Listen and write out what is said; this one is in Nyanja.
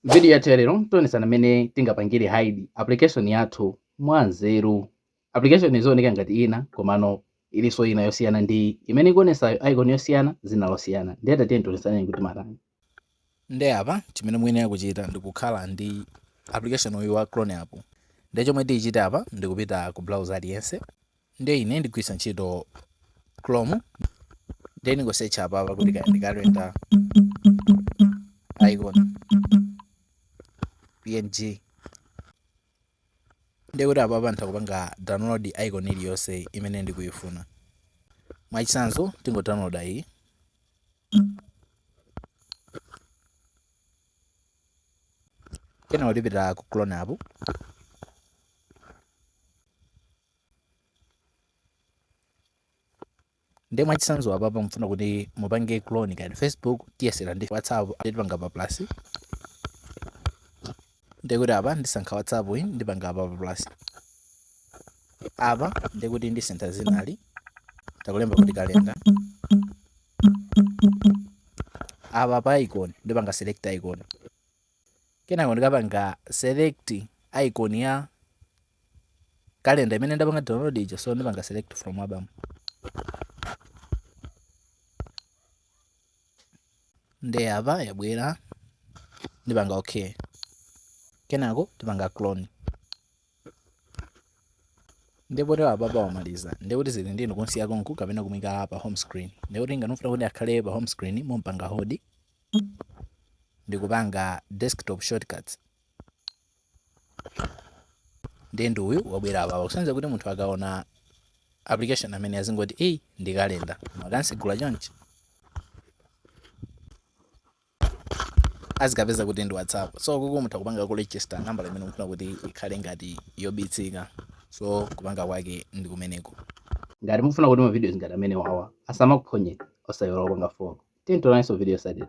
M'vidiyo yathu ya lero tionetsana mmene tingapangire hide application yathu mwanzeru. Application izioneka ngati ina komano ilinso ina yosiyana ndi imene ikuonetsayo, icon yosiyana, dzina losiyana. Ndiye tatiyeni tionetsane kuti matani. Ndiye apa chimene muyenera kuchita ndikukhala ndi application uyu wa Clone app. Ndiye chomwe tichite apa ndi kupita ku browser aliyense. nde ine ndigwiritsa ntchito chrome nde ndingosecha apapa kuti kaya ndi kalenda icon png nde kuti apapa nditha kupanga download icon iliyonse imene ndikuyifuna mwachitsanzo tingo download iyi kenako tipita ku clone app nde mwachitsanzo apapa mufuna kuti mupange clone kaya ndi facebook tiyesera ndi whatsapp ndipanga pa plus ndekuti apa ndisankha whatsapp iyi ndipanga apa pa plus apa ndekuti ndisintha dzinali n'kulemba kuti kalenda apa pa icon ndipanga select icon kenako ndikapanga select icon ya calendar imene ndapanga download ija so ndipanga select from album nde apa yabwera ndipanga okay kenako tipanga clone ndiyeno apapa wamaliza ndekuti zili ndi inu kumusiya konkuno kapena kumuika pa home screen ndekuti ngati mufuna kuti akhale pa home screen mumpanga hold ndikupanga desktop shortcuts ndiye ndi uyu wabwera apapa kusonyeza kuti munthu akaona application ameneyu azingoti eyi ndi kalenda koma akamtsegula chonchi azikapeza kuti ndi whatsapp so kuku mutha kupanga ku register nambala imene mukufuna kuti ikhale ngati yobisika so kupanga kwake ndi kumeneko ngati mukufuna kuti mavidiyo ngati amenewawa asamakuphonye osaiwala kupanga follow tiyeni tionanenso mu video yotsatira